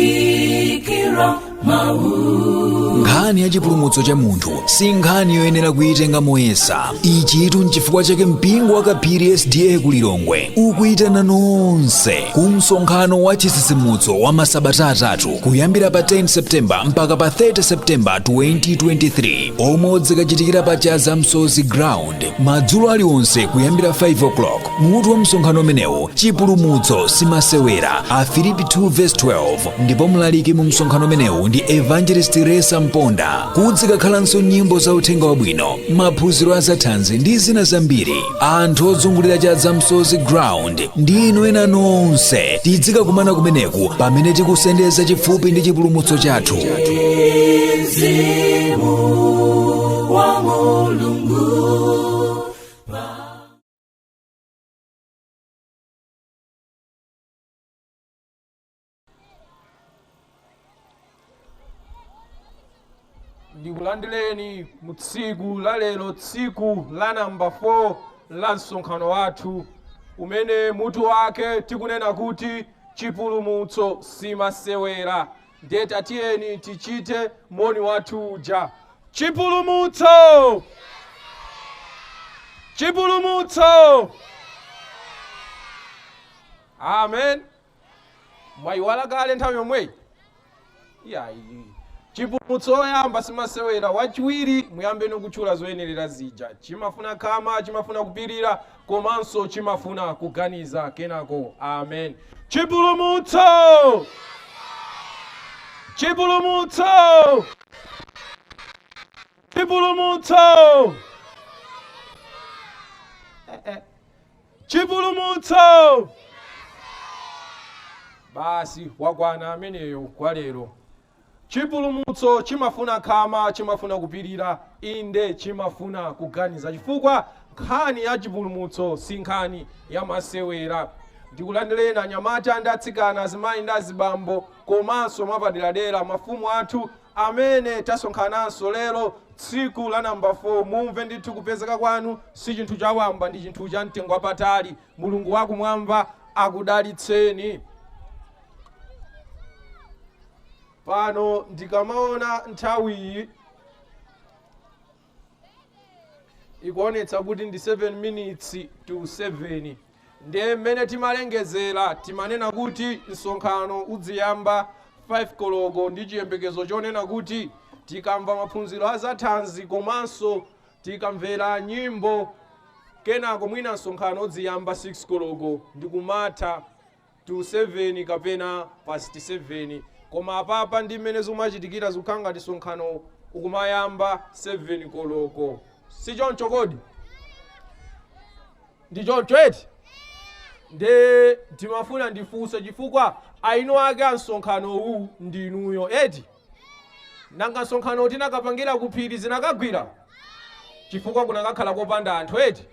lalikira mau nkhani ya chipulumutso cha munthu si nkhani yoyenera kuyitenga moyesa ichitu nchifukwa chake mpingo wa kaphiri sda ku lilongwe ukuyitana nonse ku msonkhano wa chitsitsimutso wa masabata atatu kuyambira pa 10 septemba mpaka pa 30 septemba 2023 omwe udzikachitikira pa chadza msozi ground madzulo aliwonse kuyambira 5 o'clock mutu wa msonkhano umenewu chipulumutso simasewera afilipi 2:12 ndipo mlaliki mu msonkhano umenewu ndi evangelist resa mponda kudzikakhalanso nyimbo za uthenga wabwino maphunziro a zathanzi ndi zina zambiri anthu ozungulira chadza msozi ground ndi inu ena nonse tidzikakumana kumeneku pamene tikusendeza chifupi ndi chipulumutso chathu ndikulandireni mu tsiku la lero tsiku la namba 4 la msonkhano wathu umene mutu wake tikunena kuti chipulumutso simasewera ndiye tatiyeni tichite moni wathu uja chipulumutso chipulumutso amen mwayiwala kale nthawi yomweyi iyayi chipulumutso oyamba simasewera wachiwiri muyambeno kutchula zoyenerera zija chimafuna khama chimafuna kupirira komanso chimafuna kuganiza kenako. Amen. Chipulumutso! Chipulumutso! Chipulumutso! Eh, eh. Chipulumutso! Basi wakwana ameneyo kwa lero. Chipulumutso chimafuna khama, chimafuna kupirira, inde, chimafuna kuganiza, chifukwa nkhani ya chipulumutso si nkhani ya masewera. Ndikulandireni anyamata ndi atsikana, azimayi ndi azibambo, komanso mwapaderadera mafumu athu amene tasonkhananso lero tsiku la number 4. Mumve ndithu kupezeka kwanu si chinthu chawamba, ndi chinthu cha mtengo wapatali. Mulungu wakumwamba akudalitseni. pano ndikamaona nthawiyi ikuonetsa kuti ndi 7 minutes to 7 ndiye mmene timalengezera timanena kuti msonkhano udziyamba 5 koloko ndi chiyembekezo chonena kuti tikamva maphunziro a zathanzi komanso tikamvera nyimbo kenako mwina msonkhano udziyamba 6 koloko ndikumatha to 7 kapena past 7 koma apapa ndi mmene zikumachitikira zikukhala ngati msonkhano ukumayamba 7 koloko si choncho kodi ndi choncho eti nde timafuna ndifunse chifukwa eni ake a msonkhano uwu ndi inuyo eti nanga msonkhano tikanapangira kuphiri zikanagwira chifukwa kukanakhala kopanda anthu eti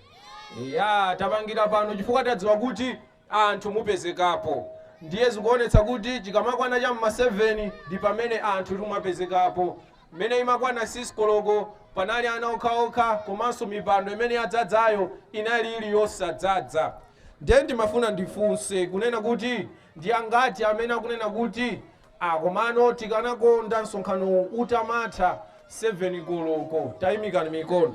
ya tapangira pano chifukwa tadziwa kuti anthu mupezekapo ndiye zikuonetsa kuti chikamakwana cha m'ma 7 ndi pamene anthu timapezekapo. Mmene imakwana 6 koloko panali ana okhaokha komanso mipando imene yadzadzayo inali ili yosadzadza. Ndiye ndimafuna ndifunse kunena kuti ndi angati amene akunena kuti ah komano tikanakonda msonkhanowu utamatha 7 koloko? Taimikani mikono.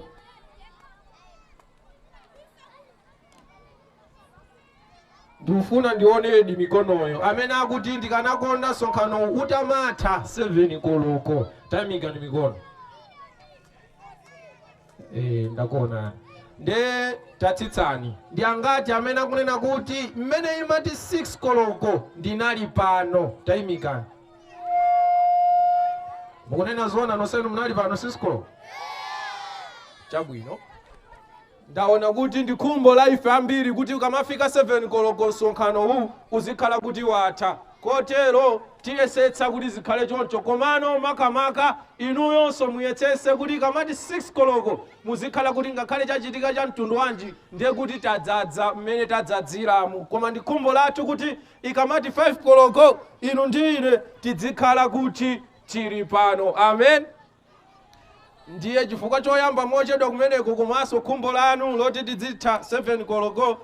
ndikufuna ndionedi mikonoyo amene akuti ndikanakonda msonkhano utamatha 7 koloko tayimikani mikono Eh, ndakuonani nde tatsitsani ndi angati amene akunena kuti mmene imati 6 koloko ndinali pano tayimikani mukunena zoona nonsenu munali pano 6 koloko chabwino Ndaona kuti ndi khumbo la ife ambiri kuti ukamafika 7 koloko msonkhanowu uzikhala kuti watha. Kotero tiyesetsa kuti zikhale choncho komano makamaka inuyonso muyesetse kuti ikamati 6 koloko muzikhala kuti ngakhale chachitika cha mtundu wanji ndiye kuti tadzadza mmene tadzadziramu. Koma ndi khumbo lathu kuti ikamati 5 koloko inu ndi ine tidzikhala kuti tili pano. Amen. Ndiye chifukwa choyamba mochedwa kumeneko komanso khumbo lanu loti tidzitha 7 koloko,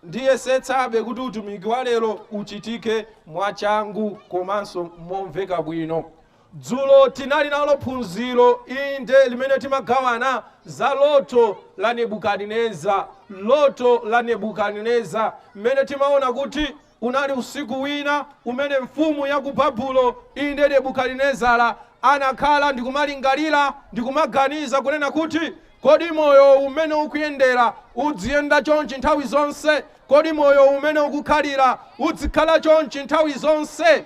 ndiyesetsabe kuti utumiki wa lero uchitike mwachangu komanso momveka bwino. Dzulo tinali nalo phunziro, inde, limene timagawana za loto la Nebukadineza, loto la Nebukadineza, mmene timaona kuti Unali usiku wina umene mfumu ya ku Babulo, inde Nebukadinezara, anakhala ndi kumalingalira ndi kumaganiza, kunena kuti, Kodi moyowu m'mene ukuyendera udziyenda chonchi nthawi zonse? Kodi moyowu m'mene ukukhalira udzikhala chonchi nthawi zonse?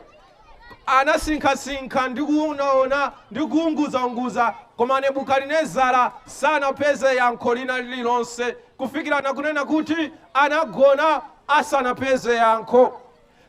Anasinkhasinkha ndi kuonaona ndi kuunguzaunguza, koma Nebukadinezara sanapeze yankho lina lililonse kufikira na kunena kuti anagona asanapeze yankho.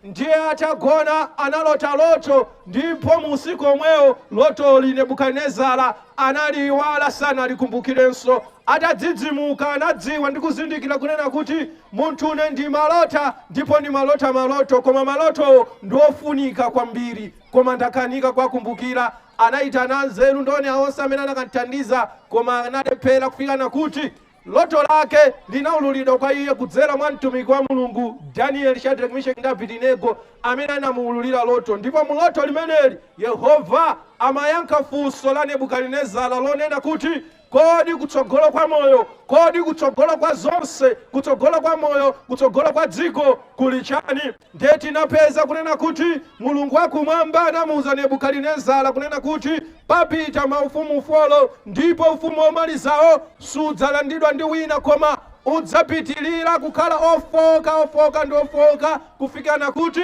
Ndiye atagona analota loto, ndipo mu usiku omwewo lotoli Nebukadinezara analiiwala, sanalikumbukirenso. Atadzidzimuka, anadziwa ndi kuzindikira kunena kuti, Munthune ndimalota, ndipo ndimalota maloto, koma malotowo ndi ofunika kwambiri, koma ndakanika kuwakumbukira. Anaitana anzeru ndi onenera onse amene anakamthandiza, koma analephera kufikana kuti loto lake linaululidwa kwa iye kudzera mwa mtumiki wa Mulungu Danieli, Shadrach, Meshach ndi Abedinego amene anamuululira loto. Ndipo mu loto limeneli Yehova amayankha funso la Nebukadinezara lonena kuti, Kodi kutsogolo kwa moyo, kodi kutsogolo kwa zonse, kutsogolo kwa moyo, kutsogolo kwa dziko kuli chani? Ndiye tinapeza kunena kuti Mulungu wa kumwamba anamuuza Nebukadinezara kunena kuti papita maufumu folo ndipo ufumu womalizawo sudzalandidwa ndi wina koma udzapitilira kukhala ofooka, ofooka ndi ofooka kufikana kuti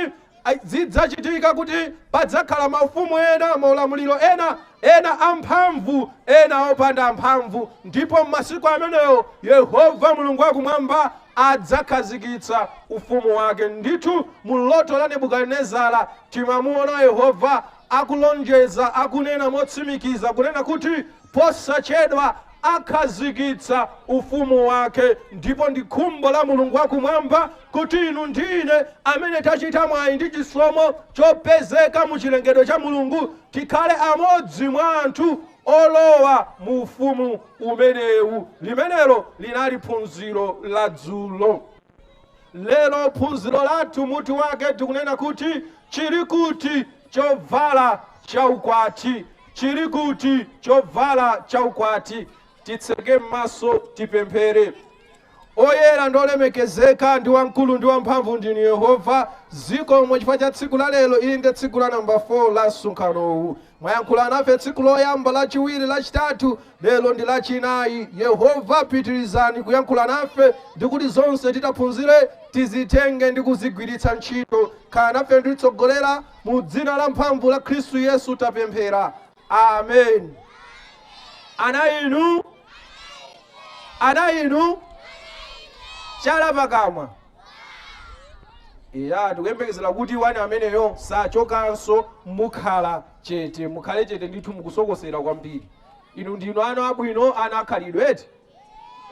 Zidzachitika kuti padzakhala maufumu ena, maulamuliro ena, ena amphamvu, ena opanda mphamvu, ndipo m'masiku amenewo Yehova Mulungu wa Kumwamba adzakhazikitsa ufumu wake. Ndithu, mu loto la Nebukadinezara timamuona Yehova akulonjeza, akunena motsimikiza kunena kuti. Posachedwa akhazikitsa Ufumu wake, ndipo ndi khumbo la Mulungu wa Kumwamba kuti inu ndi ine, amene tachita mwayi ndi chisomo chopezeka mu chilengedwe cha Mulungu, tikhale amodzi mwa anthu olowa mu Ufumu umenewu. Limenelo linali phunziro la dzulo. Lero phunziro lathu mutu wake tikunena kuti chili kuti chovala cha ukwati. Chili kuti chovala cha ukwati. Titseke m'maso tipemphere. Oyera ndi olemekezeka ndi wamkulu ndi wamphamvu ndinu Yehova, zikomo chifukwa cha tsiku la lero. Ili ndi tsiku la namba 4 la msonkhanowu. Mwayankhula nafe tsiku loyamba, lachiwiri, lachitatu, lero ndi lachinayi. Yehova, pitirizani kuyankhula nafe ndi kuti zonse titaphunzire tizitenge ndi kuzigwiritsa ntchito. Khala nafe ndi kutitsogolera. Mu dzina lamphamvu la Khristu Yesu tapemphera. Amen. Ana inu, ana inu, chala pakamwa. eya tikuyembekezera kuti wani ameneyo sachokanso mukhala chete mukhale chete ndithu mukusokosera kwambiri inu ndinu ana abwino ana akhalidwe eti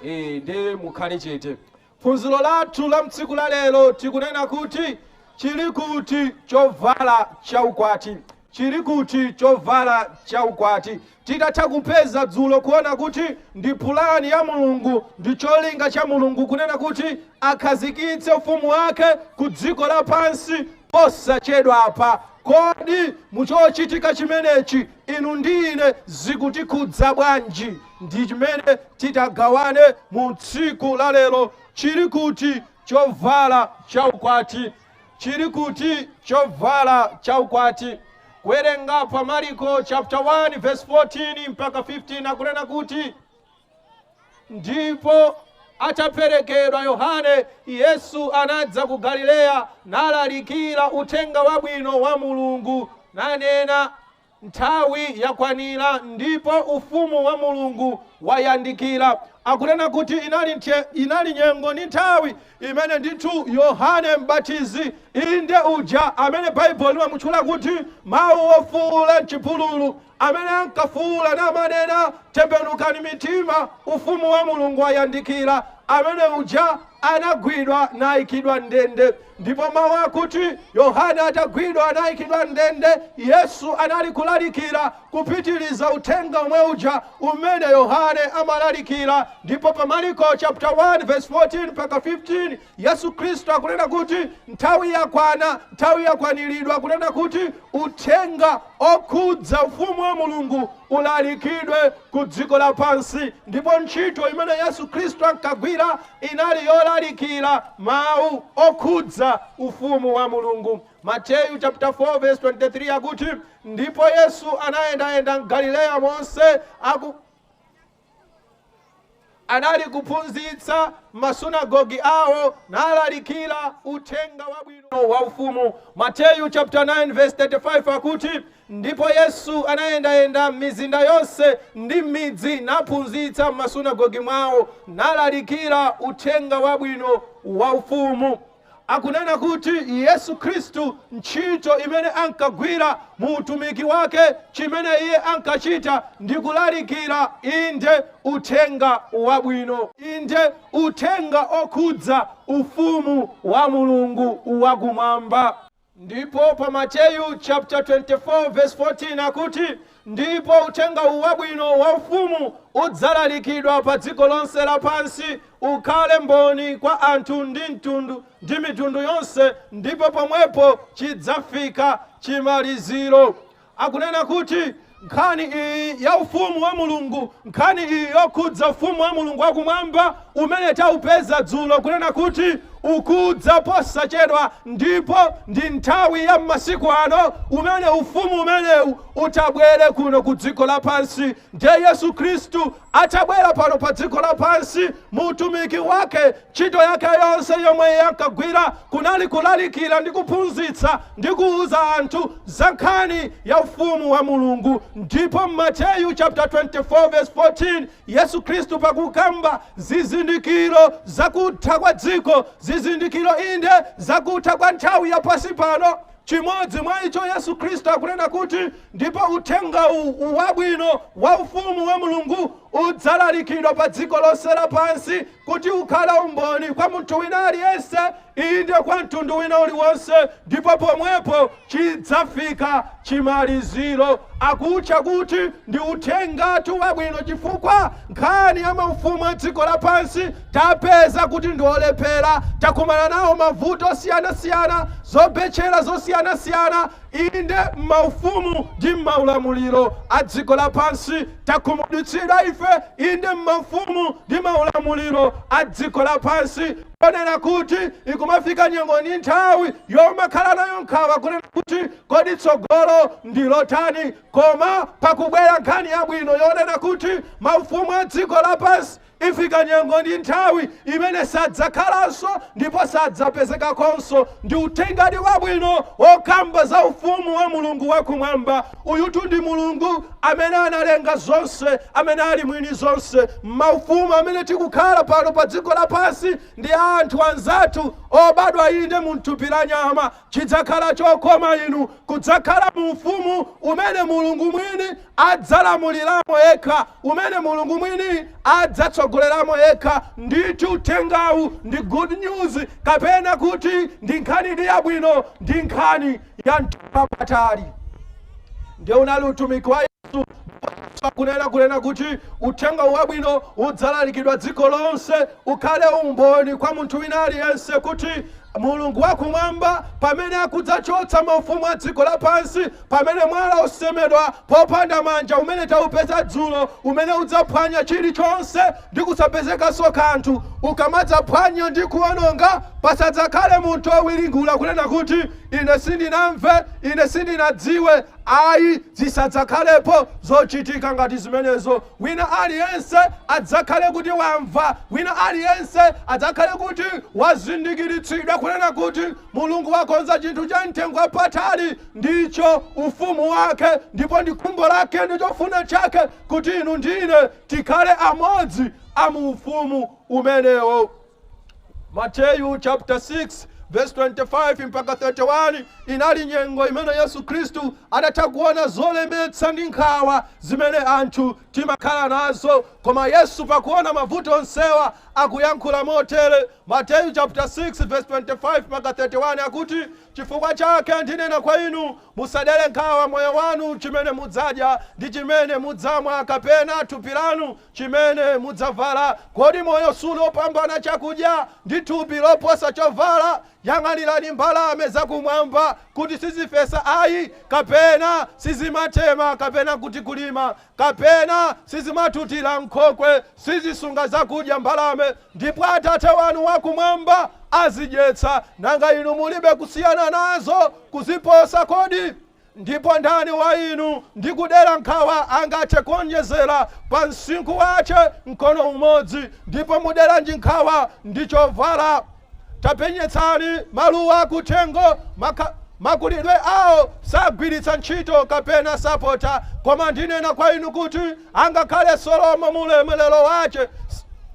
Eh, ndiye mukhale chete phunziro lathu la mtsiku la lero tikunena kuti chili kuti chovala cha ukwati Chiri kuti chovala cha ukwati? Titatha kupeza dzulo kuona kuti ndi pulani ya Mulungu ndi cholinga cha Mulungu kunena kuti akhazikitse ufumu wake ku dziko lapansi posachedwapa, kodi mu chochitika chimenechi inu ndi ine zikutikhudza bwanji? Ndi chimene titagawane mu tsiku la lero, chiri kuti chovala cha ukwati? Chiri kuti chovala cha ukwati? Kuwerenga pa Mariko chapter 1 verse 14 mpaka 15 akunena kuti ndipo ataperekedwa Yohane, Yesu anadza ku Galileya nalalikira uthenga wabwino wa Mulungu nanena, Nthawi yakwanira ndipo Ufumu wa Mulungu wayandikira. Akunena kuti inali nthe, inali nyengo ndi nthawi imene ndithu Yohane M'batizi, inde uja amene Baibulo limamutchula kuti mawu ofuula m'chipululu, amene ankafuula namanena, Tembenukani mitima, Ufumu wa Mulungu wayandikira, amene uja anagwidwa naikidwa m'ndende. Ndipo mawu akuti Yohane atagwidwa anaikidwa m'ndende, Yesu anali kulalikira, kupitiriza uthenga womwe uja umene Yohane amalalikira. Ndipo pa Maliko chapter 1 verse 14 mpaka 15, Yesu Khristu akunena kuti nthawi yakwana, nthawi yakwaniridwa kunena kuti uthenga okhudza ufumu wa Mulungu ulalikidwe ku dziko lapansi. Ndipo ntchito imene Yesu Khristu ankagwira inali yolalikira mawu okhudza Ufumu wa Mulungu. Mateyu chapter 4 verse 23 akuti, Ndipo Yesu anayendayenda m'Galileya monse aku anali kuphunzitsa m'masunagoge awo nalalikira uthenga wabwino wa ufumu. Mateyu chapter 9 verse 35 akuti, Ndipo Yesu anayendayenda m'mizinda yonse ndi m'midzi, naphunzitsa m'masunagoge mwawo, nalalikira uthenga wabwino wa ufumu. Akunena kuti Yesu Khristu ntchito imene ankagwira mu utumiki wake chimene iye ankachita ndi kulalikira inde uthenga wabwino inde uthenga okhudza ufumu wa Mulungu wakumwamba. Ndipo pa Mateyu chapter 24 verse 14 akuti, Ndipo uthenga uwu wabwino wa ufumu udzalalikidwa pa dziko lonse lapansi, ukhale mboni kwa anthu ndi mtundu, ndi mitundu yonse, ndipo pomwepo chidzafika chimaliziro. akunena kuti nkhani iyi ya ufumu wa mulungu nkhani iyi yokhudza ufumu wa mulungu wakumwamba umene taupeza dzulo kunena kuti ukudza posachedwa ndipo ndi nthawi ya m'masiku ano umene ufumu umenewu utabwere kuno ku dziko lapansi ndiye yesu khristu Atabwera pano pa dziko lapansi, mu utumiki wake, ntchito yake yonse yomwe iye ankagwira kunali kulalikira ndi kuphunzitsa ndi kuwuza anthu za nkhani ya ufumu wa Mulungu. Ndipo m'Mateyu chapter 24 verse 14 Yesu Khristu pakukamba zizindikiro zakutha kwa dziko, zizindikiro inde zakutha kwa nthawi ya pansi pano, Chimodzi mwa icho Yesu Khristu akunena kuti, Ndipo uthenga uwu, u, wabwino wa ufumu wa Mulungu udzalalikidwa pa dziko lonse lapansi kuti ukhale umboni kwa munthu wina aliyense, inde kwa mtundu wina uliwonse, ndipo pomwepo chidzafika chimaliziro. Akuutcha kuti ndi Uthengatu Wabwino chifukwa nkhani ya maufumu a dziko lapansi Tapeza kuti ndi olephera. Takumana nawo mavuto osiyanasiyana, zobetchera zosiyanasiyana, inde, m'maufumu ndi m'maulamuliro a dziko lapansi. Takhumudwitsidwa ife, inde, m'maufumu ndi maulamuliro a dziko lapansi, ponena kuti ikumafika nyengo ndi nthawi yomakhala nayo nkhawa kunena kuti, Kodi tsogolo ndi lotani? Koma pakubwera nkhani yabwino yonena kuti maufumu a dziko lapansi, Ifika nyengo ndi nthawi imene sadzakhalanso ndipo sadzapezekakonso. Ndi uthengadi wabwino wokamba za Ufumu wa Mulungu wa Kumwamba. Uyutu ndi Mulungu amene analenga zonse, amene ali mwini zonse. M'maufumu amene tikukhala pano pa dziko lapansi, ndi a anthu anzathu obadwa, inde, mu thupi la nyama, Chidzakhala chokoma inu kudzakhala mu Ufumu umene Mulungu Mwini adzalamuliramo Yekha, umene Mulungu Mwini adzatsogoleramo Yekha. Ndithu Uthengawu ndi Good News, kapena kuti ndi Nkhanidi yabwino, ndi Nkhani ya mtengo wapatali. Ndiye unali utumiki wa Yesu, ndipo Yesu akunena kunena kuti Uthenga uwu Wabwino udzalalikidwa dziko lonse, ukhale umboni kwa munthu wina aliyense kuti Mulungu wa Kumwamba, pamene akudzachotsa maufumu a dziko lapansi, pamene Mwala wosemedwa popanda manja umene taupeza dzulo, umene udzaphwanya chilichonse ndi kusapezekanso kanthu, ukamadzaphwanya ndi kuwononga, pasadzakhale munthu wowiringula, kunena kuti, Ine sindinamve, ine sindinadziwe. Ayi, zisadzakhalepo zochitika ngati zimenezo. Wina aliyense adzakhale kuti wamva, wina aliyense adzakhale kuti wazindikiritsidwa, kunena kuti, Mulungu wakonza chinthu cha mtengo wapatali, ndicho Ufumu Wake, ndipo ndi khumbo Lake ndi chofuna Chake kuti inu ndine tikhale amodzi a mu Ufumu umenewo. Mateyu chaputala 6 vesi 25 mpaka 31 inali nyengo imene Yesu Khristu adatha kuona zolemetsa ndi nkhawa zimene anthu timakhala nazo. Koma Yesu pakuona mavuto onsewa akuyankhula motere. Mateyu chaputala 6 vesi 25 mpaka 31 akuti, Chifukwa chake ndinena kwa inu, Musadere nkhawa moyo wanu, chimene mudzadya, ndi chimene mudzamwa, kapena thupi lanu, chimene mudzavala. Kodi moyo suli wopambana chakudya, ndi thupi loposa chovala? Yang'anirani mbalame za kumwamba, kuti sizifesa ayi, kapena sizimatema, kapena kuti kulima, kapena sizimatutira m'nkhokwe, sizisunga zakudya mbalame, ndipo Atate wanu wa kumwamba azidyetsa. Nanga inu mulibe kusiyana nazo kuziposa kodi? Ndipo ndani wa inu ndi kudera nkhawa angathe kuonjezera pa msinkhu wace mkono umodzi? Ndipo muderanji nkhawa ndi chovala? Tapenyetsani maluwa a kuthengo, makulidwe ao, sagwiritsa ntchito, kapena sapota, koma ndinena kwa inu kuti angakhale Solomo mu ulemerero wace,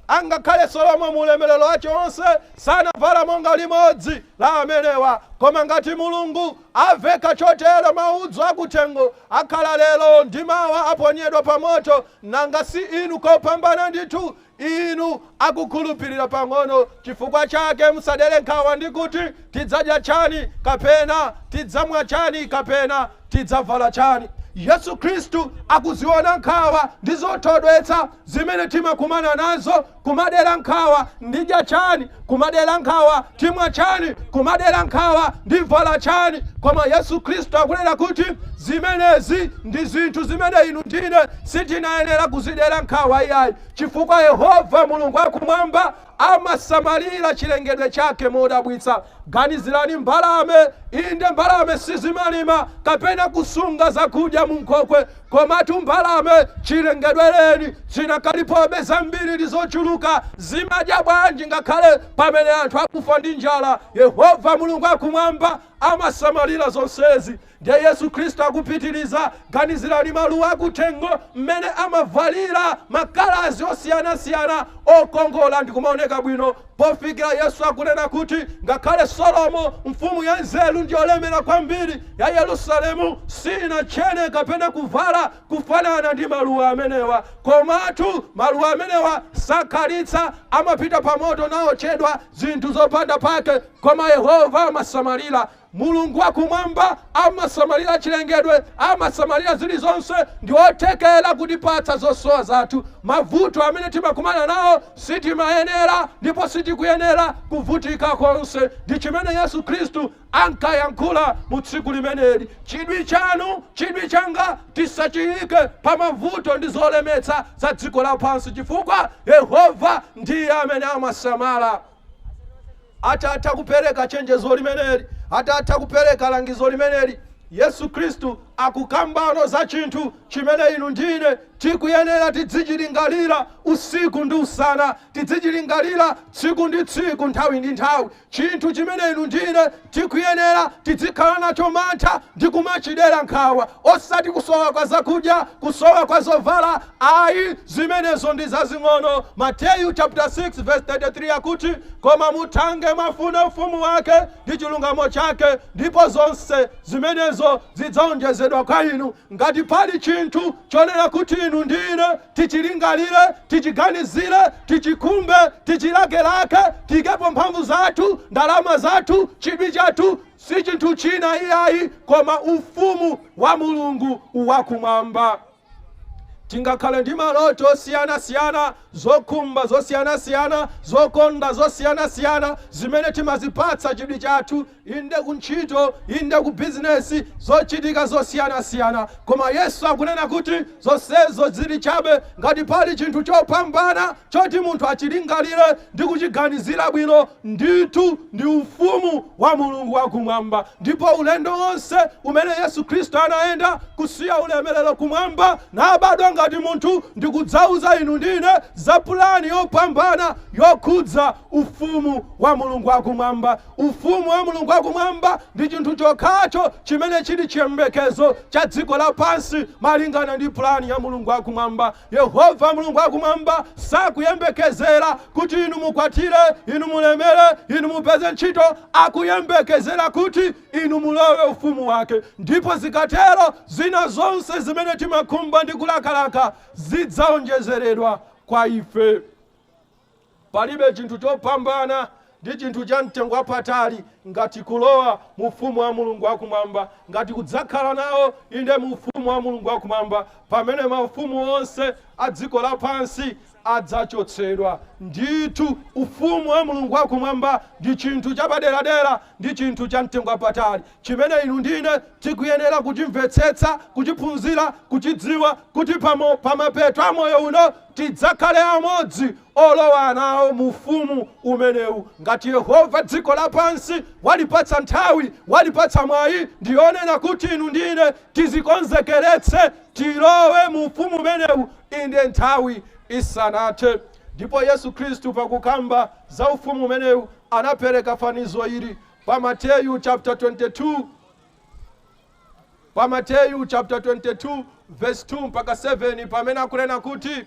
angakhale Solomo mu ulemerero wace onse sanavala monga limodzi la amenewa. Koma ngati Mulungu. Aveka chotero maudzu akuthengo, akhala lero ndi mawa aponyedwa pamoto, nanga si inu kopambana ndithu, inu akukhulupirira pang'ono? Chifukwa chake musadere nkhawa ndi kuti, Tidzadya chani? kapena Tidzamwa chani? kapena Tidzavala chani? Yesu Khristu akuziona nkhawa ndi zothodwetsa zimene timakumana nazo kumadera nkhawa ndidya chani kumadera nkhawa timwa chani kumadera nkhawa ndivala chani koma yesu khristu akunena kuti zimenezi ndi zinthu zimene inu ndine sitinayenera kuzidera nkhawa iyayi chifukwa yehova mulungu akumwamba amasamalira chilengedwe chake modabwitsa ganizirani mbalame inde mbalame sizimalima kapena kusunga zakudya munkhokwe Komatu mbalame chilengedwereni zinakalipobe zambiri ndi zochuluka. Zimadya bwanji ngakhale pamene anthu akufa ndi njala? Yehova Mulungu akumwamba amasamalira zonsezi. Ndiye Yesu Khristu akupitiriza, Ganizirani maluwa akuthengo, mmene amavalira makalazi osiyanasiyana okongola ndi kumaoneka bwino Pofikira Yesu akunena kuti ngakhale Solomo, mfumu yanzeru ndi yolemera kwambiri ya Yerusalemu, sinatchene kapena kuvala kufanana ndi maluwa amenewa. Komatu, maluwa amenewa sakhalitsa, amapita pamoto nawotchedwa, zinthu zopanda pake, koma Yehova amasamalira. Mulungu wa Kumwamba amasamalira chilengedwe, amasamalira zilizonse, ndi wothekera kutipatsa zosowa zathu. Mavuto amene timakumana nawo sitimayenera ndipo sitikuyenera kuvutika konse. Ndi chimene Yesu Khristu ankayankhula mu tsiku limeneli. Chidwi chanu, chidwi changa tisachiike pa mavuto ndi zolemetsa za dziko lapansi, chifukwa Yehova ndiye amene amasamala. Atatha kupereka chenjezo limeneli, atatha kupereka langizo limeneli, Yesu Khristu akukambano za chinthu chimene inu ndi ine tikuyenera tidzichilingalira usiku ndi usana, tidzichilingalira tsiku ndi tsiku, nthawi ndi nthawi, chinthu chimene inu ndi ine Tikuyenera tidzikhala nacho mantha ndi kumachidera nkhawa osati kusowa kwa zakudya, kusowa kwa zovala ayi, zimenezo ndi zazing'ono. Mateyu chapter 6 verse 33 akuti, Koma muthange mwafuna ufumu wake ndi chilungamo chake, ndipo zonse zimenezo zidzaonjezedwa kwa inu. Ngati pali chinthu chonena kuti inu ndi ine tichilingalire, tichiganizire, tichikhumbe, tichilakelake, tiikepo mphamvu zathu, ndalama zathu, chidwi chathu, si chinthu china iyayi koma ufumu wa mulungu wakumwamba tingakhale ndi maloto osiyanasiyana zokhumba zosiyanasiyana zokonda zosiyanasiyana zimene timazipatsa chidwi chathu Inde ku ntchito, inde ku bizinesi, zochitika zosiyanasiyana. Koma Yesu akunena kuti zonsezo zili chabe ngati pali chinthu chopambana choti munthu achilingalire ndi kuchiganizira bwino, ndithu ndi Ufumu wa Mulungu wa Kumwamba. Ndipo ulendo wonse umene Yesu Khristu anayenda kusiya ulemelero kumwamba, nabadwa ngati munthu ndi kudzauza inu ndi ine za pulani yopambana yokhudza Ufumu wa Mulungu wa Kumwamba. Ufumu wa Mulungu wa Kumwamba ndi chinthu chokhacho chimene chili chiyembekezo cha dziko lapansi malingana ndi pulani ya Mulungu wa Kumwamba. Yehova Mulungu wa Kumwamba sakuyembekezera kuti inu mukwatire, inu mulemere, inu mupeze ntchito, akuyembekezera kuti inu mulowe Ufumu Wake. Ndipo zikatero, zina zonse zimene timakhumba ndi kulakalaka zidzaonjezeredwa kwa ife. Palibe chinthu chopambana ndi chinthu cha mtengo wapatali ngati kulowa mu Ufumu wa Mulungu wa Kumwamba, ngati kudzakhala nawo, inde, mu Ufumu wa Mulungu wa Kumwamba, pamene maufumu onse a dziko lapansi adzachotsedwa. Ndithu, Ufumu wa Mulungu wa Kumwamba ndi chinthu chapaderadera ndi chinthu cha mtengo wapatali. chimene inu ndi ine tikuyenera kuchimvetsetsa, kuchiphunzira, kuchidziwa, kuti pamapeto a moyo uno tidzakhale amodzi olowa nawo mu ufumu umenewu. Ngati Yehova dziko lapansi walipatsa nthawi, walipatsa mwayi, ndi yonena kuti inu ndi ine tizikonzekeretse tilowe mu ufumu umenewu inde nthawi isanathe. Ndipo Yesu Khristu pakukamba za ufumu umenewu anapereka fanizo ili, Pa Mateyu chapter 22, pa Mateyu chapter 22 verse 2 mpaka 7 pamene akunena kuti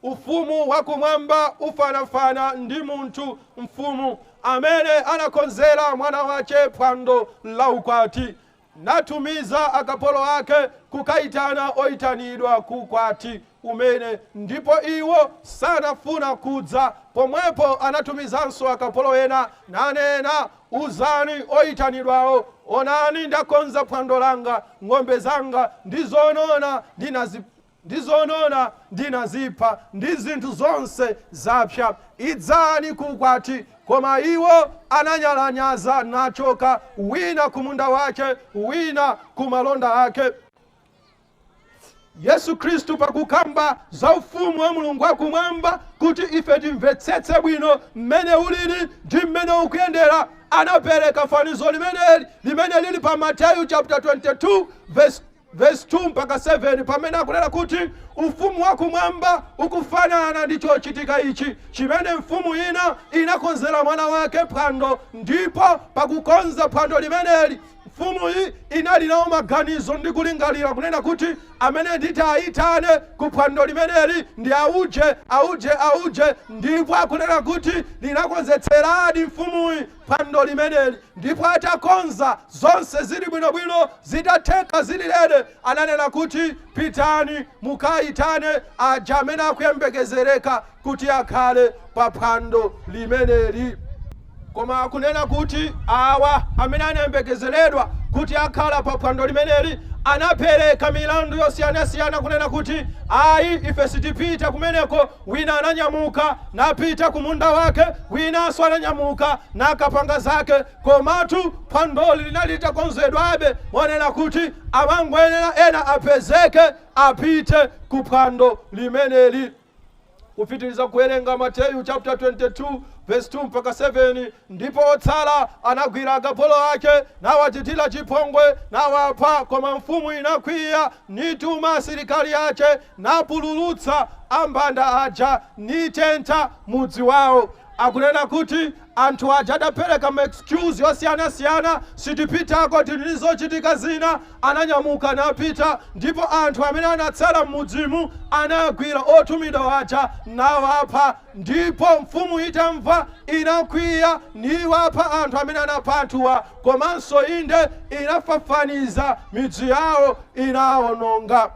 ufumu wakumwamba ufanafana ndi munthu mfumu amene anakonzera mwana wace phwando la ukwati natumiza akapolo ake kukaitana oitanidwa ku ukwati umene, ndipo iwo sanafuna kudza, pomwepo anatumizanso akapolo ena, nanena, Uzani oitanidwawo, Onani ndakonza phwando langa, ng'ombe zanga ndi zonona ndina ndi zonona ndinazipha, ndi zinthu zonse zapsa, idzani ku ukwati. Koma iwo ananyalanyaza, nachoka, wina ku munda wake, wina ku malonda ake. Yesu Khristu pakukamba za ufumu wa Mulungu wakumwamba kuti ife timvetsetse bwino mmene ulili ndi mmene ukuyendera, anapereka fanizo limeneli limene lili pa Mateyu chapter 22 verse Vesi 2 mpaka 7, pamene akunena kuti Ufumu wa Kumwamba ukufanana ndi chochitika ichi chimene mfumu ina inakonzera mwana wake phwando, ndipo pakukonza phwando limeneli, mfumuyi inali nawo maganizo ndi kulingalira kunena kuti, Amene nditawayitane ku phwando limeneli ndi auje, auje, auje, ndipo akunena kuti linakonzetseradi mfumuyi phwando limeneli ndipo atakonza zonse zili bwinobwino zitatheka zili ready ananena kuti pitani mukayitane aja amene akuyembekezereka kuti akhale pa phwando limeneli koma akunena kuti awa amene anayembekezeredwa kuti akhala pa phwando limeneli anapereka milandu yosiyanasiyana kunena kuti ayi ife sitipita kumeneko Wina ananyamuka napita ku munda wake, winanso ananyamuka nakapanga zake. Komatu phwandoli linali litakonzedwabe monena kuti amangoyenera ena apezeke apite ku phwando limeneli. Kupitiriza kuwerenga Mateyu chaputala 22 vesi 2 mpaka 7, Ndipo otsala anagwira akapolo ake, nawachitira chipongwe, nawapha. Koma mfumu inakwiya, nituma asilikali ache, napululutsa ambanda aja, nitentha mudzi wao. Akunena kuti anthu aja adapereka ma excuse osiyanasiyana, sitipitako tili ndi zochitika zina, ananyamuka napita ndipo anthu amene anatsala m'mudzimu anagwira otumidwa aja nawapha Ndipo mfumu itamva, inakwiya, niwapha anthu amene anapha anthuwa, komanso, inde, inafafaniza midzi yawo, inawononga.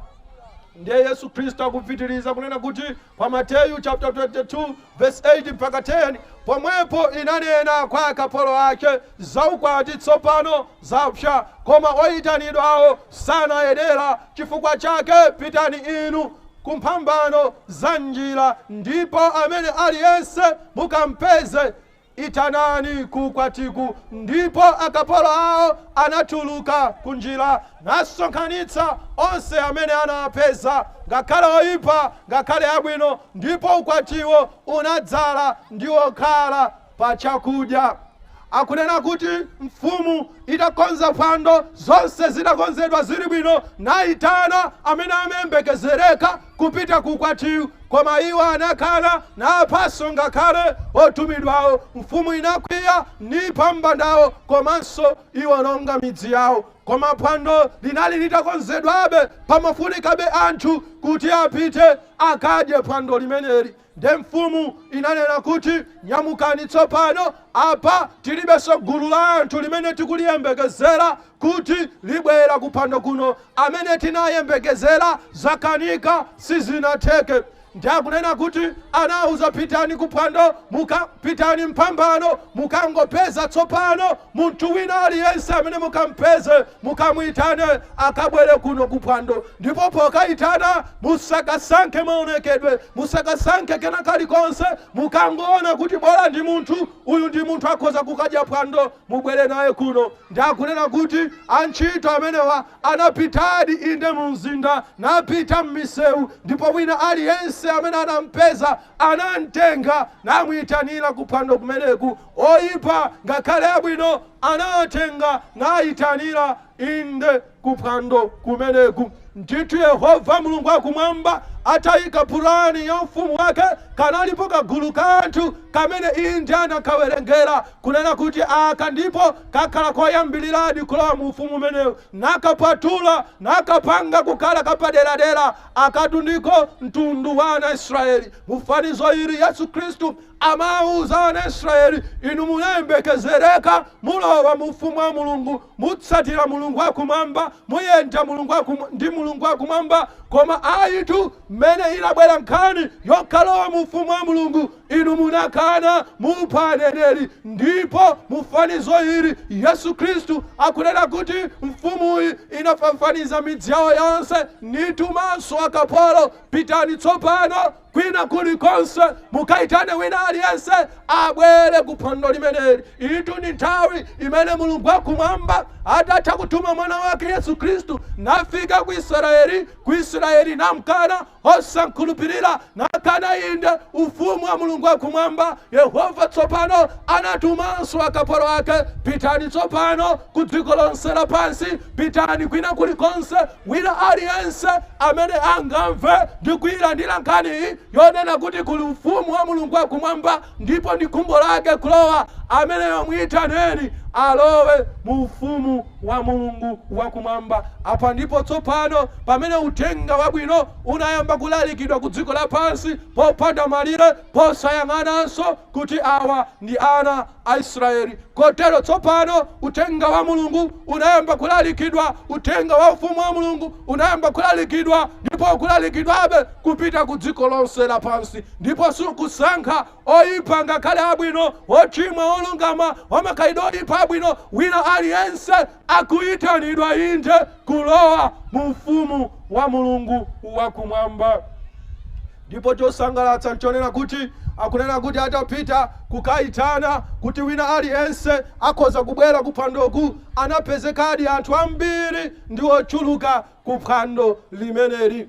Ndiye Yesu Khristu akupitiriza kunena kuti pa Mateyu chaputala 22 vesi 8 mpaka 10, Pomwepo inanena kwa akapolo ake, Za ukwati tsopano zapsa, koma oyitanidwawo sanayenera, chifukwa chake pitani inu, ku mphambano za njira, ndipo amene aliyense mukampeze, itanani ku ukwatiku. Ndipo akapolo awo anatuluka kunjira, nasonkhanitsa onse amene anawapeza, ngakhale oyipa ngakhale abwino, ndipo ukwatiwo unadzala ndi okhala. pa chakudya. Akunena kuti mfumu itakonza phwando, zonse zidakonzedwa zili bwino, naitana amene amayembekezereka kupita ku ukwatiwu, koma iwo anakana, naphanso ngakhale otumidwawo. Mfumu inakwiya, nipha ambandawo komanso niwononga midzi yawo. Koma phwando linali litakonzedwabe, pamafunikabe anthu kuti apite akadye phwando limeneli. Nde mfumu inanena kuti, Nyamukani tsopano, apa tilibenso gulu la anthu limene tikuliyembekezera kuti libwera kuphwando kuno. Amene tinayembekezera zakanika, sizinatheke. Ndiye akunena kuti anawauza, Pitani kuphwando, muka, pitani m'phambano, mukangopeza tsopano Munthu wina aliyense amene mukampeze, mukamuitane akabwere kuno ku phwando. Ndipo pokaitana, musakasankhe maonekedwe, musakasankhe kena kalikonse. Mukangoona kuti bola ndi munthu, uyu ndi munthu akhoza kukadya phwando, mubwere naye kuno. Nde akunena kuti, Antchito amenewa anapitadi, inde, mu mzinda, napita mmisewu, ndipo wina aliyense amene anampeza anamtenga, namuitanira ku phwando kumeneku. oyipa ngakhale abwino anawatenga nayitanira, inde ku phwando kumeneku. Ndithu Yehova Mulungu wakumwamba atayika pulani ya ufumu wake, kanalipo kagulu ka anthu kamene inde anakawerengera kunena kuti aka ndiko kakhala koyambiriradi kulowa mu ufumu umenewu, nakapatula nakapanga kukhala kapaderadera. Akatu ndiko mtundu wa ana a Israeli. Mu fanizo ili Yesu Khristu Amauza ana a Israyeli, Inu munayembekezereka, mulowa mu ufumu wa Mulungu, mutsatira Mulungu wa Kumwamba, muyenda ndi Mulungu wa Kumwamba. Koma ayitu, m'mene inabwera nkhani yokalowa mu ufumu wa Mulungu, inu munakana, mupha aneneri. Ndipo mu fanizo ili Yesu Kristu akunena kuti mfumuyi inafafaniza midzi yawo yonse, nitumanso akapolo, Pitani tsopano. Kwina kulikonse, mukaitane wina aliyense abwere ku phwando limeneli. Iyitu ndi nthawi imene Mulungu wa Kumwamba, atatha kutuma Mwana wake Yesu Khristu, nafika ku Israyeli, ku Israyeli namkana, osamkhulupirira, nakana, inde, ufumu wa Mulungu wa Kumwamba. Yehova tsopano anatumanso akapolo ake, Pitani tsopano ku dziko lonse lapansi, pitani kwina kulikonse Wina aliyense amene angamve ndi kuilandira nkhani yonena kuti kuli Ufumu wa Mulungu wa Kumwamba ndipo ndi khumbo lake kulowa, ameneyo muitaneni alowe mu Ufumu wa Mulungu wa Kumwamba. Apa ndipo tsopano pamene Uthenga Wabwino unayamba kulalikidwa ku dziko lapansi popanda malire. posayang'ananso kuti awa ndi ana a Israeli. Kotero tsopano Uthenga wa Mulungu unayamba kulalikidwa, Uthenga wa Ufumu wa Mulungu unayamba kulalikidwa, ndipo ukulalikidwabe kupita ku dziko lonse lapansi, ndipo sukusankha oyipa ngakhale abwino, wochimwa, wolungama, wamakhalidwe oyipa, abwino, wina aliyense akuyitanidwa, inde, kulowa mu Ufumu wa Mulungu wa Kumwamba. Ndipo chosangalatsa nchonena kuti akunena kuti atapita kukaitana kuti wina aliyense akhoza kubwera kuphwandoku, anapezekadi anthu ambiri ndi ochuluka kuphwando limeneli.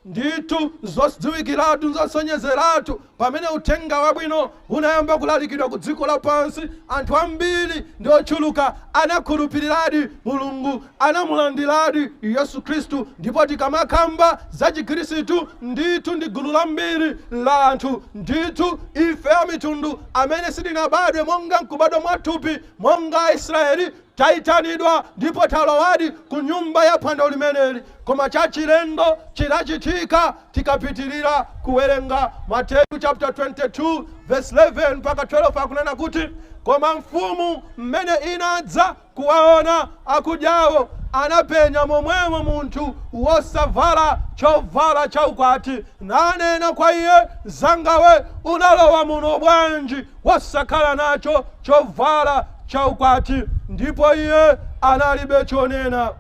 Ndithu, zodziwikiratu, zosonyezeratu pamene uthenga wabwino unayamba kulalikidwa ku dziko lapansi, anthu ambiri ndi ochuluka anakhulupiriradi Mulungu, anamulandiradi Yesu Khristu. Ndipo tikamakamba za Chikhristu, ndithu ndi gulu lambiri la anthu. Ndithu, ife Amitundu amene sitinabadwe monga m'kubadwa mwathupi monga Aisraeli, Taitanidwa ndipo talowadi ku nyumba ya phwando limeneli, koma chachilendo chinachitika tikapitilira kuwerenga Mateyu chaputala 22 vesi 11 mpaka 12 akunena kuti, Koma mfumu m'mene inadza kuwaona akudyawo, anapenya momwemo munthu wosavala chovala cha ukwati, nanena kwa iye, Mzanga we, unalowa muno bwanji? wosakhala nacho chovala cha ukwati, ndipo iye analibe chonena.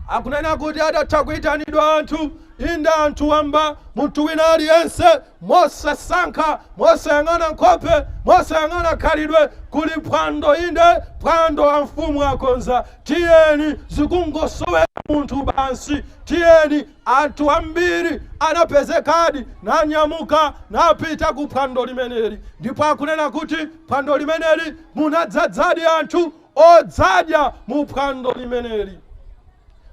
Akunena kuti adatha kuitanidwa anthu, inde anthu wamba, munthu wina aliyense, mosasankha, mosayang'ana nkhope, mosayang'ana khalidwe, kuli phwando, inde phwando amfumu akonza, tiyeni, zikungosowera munthu basi, tiyeni. Anthu ambiri anapezekadi nanyamuka napita ku phwando limeneli, ndipo akunena kuti phwando limeneli munadzadzadi anthu odzadya mu phwando limeneli.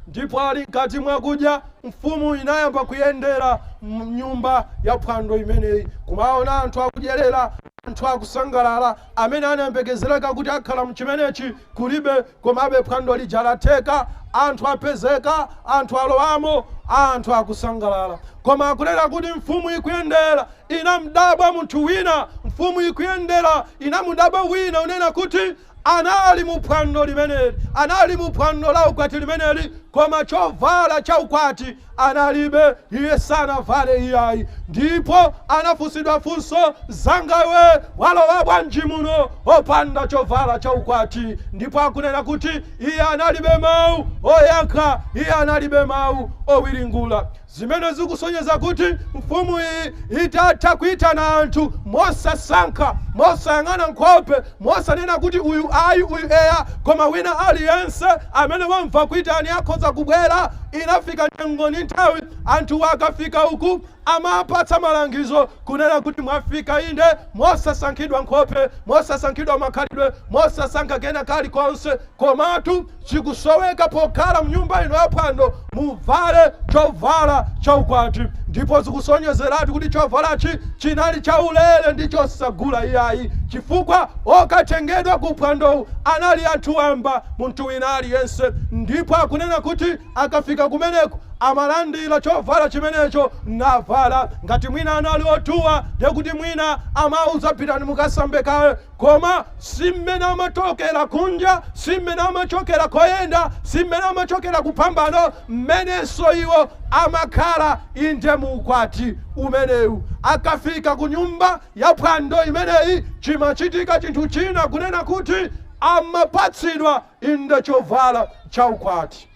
Ndipo ali mkati mwa kudya, mfumu inayamba kuyendera m'nyumba ya phwando imeneyi kumaona anthu akudyerera, anthu akusangalala, amene anayembekezereka kuti akhala m'chimenechi kulibe Komabe phwando lija latheka, anthu apezeka, anthu alowamo, anthu akusangalala. Koma akunena kuti mfumu ikuyendera inamdabwa munthu wina, mfumu ikuyendera inamudabwa wina, unena kuti anali mu phwando limeneli, anali mu phwando la ukwati limeneli, koma chovala cha ukwati analibe, iye sanavale iyayi. Ndipo anafunsidwa funso, Mzangawe, walowa bwanji muno opanda chovala cha ukwati? Ndipo akunena kuti iye analibe mawu oyankha, iye analibe mawu owiringula. Zimene zikusonyeza kuti mfumu iyi itatha kuitana anthu mosasankha, mosayang'ana nkhope, Mosanena kuti uyu ayi uyu eya koma wina aliyense amene wamva kuitana akhoza kubwera inafika nyengo ndi nthawi anthuwa akafika uku amapatsa malangizo kunena kuti mwafika inde mosasankhidwa nkhope mosasankhidwa makhalidwe mosasankha kena kalikonse komatu Chikusoweka pokhala mnyumba ino ya phwando, muvale chovala cha ukwati. Ndipo zikusonyezeratu kuti chovalachi chinali chaulere ndi chosagula iyayi chifukwa okatengedwa ku phwandowu anali anthu wamba, munthu wina aliyense ndipo akunena kuti akafika kumeneku amalandira chovala chimenecho navala. Ngati mwina anali otuwa ndekuti mwina amauza pitani mukasambe kaye. Koma si mmene amachokera kunja, si mmene amachokera koyenda, si mmene amachokera kuphambano, mmenenso iwo amakhala, inde, mu ukwati umenewu. Akafika kunyumba ya phwando imeneyi, chimachitika chinthu china, kunena kuti, amapatsidwa, inde, chovala cha ukwati.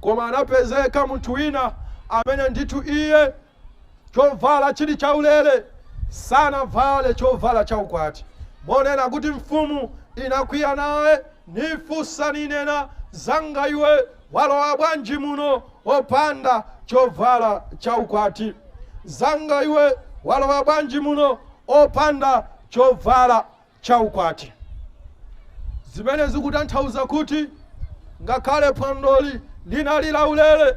Koma anapezeka munthu wina amene ndithu iye Chovala chili chaulere, sanavale chovala cha ukwati, monena kuti, Mfumu inakwiya naye, nifunsa, ninena, Zanga iwe, walowa bwanji muno opanda chovala cha ukwati? Zanga iwe, walowa bwanji muno opanda chovala? cha ukwati, zimene zikutanthauza kuti ngakhale phwandoli linali laulere,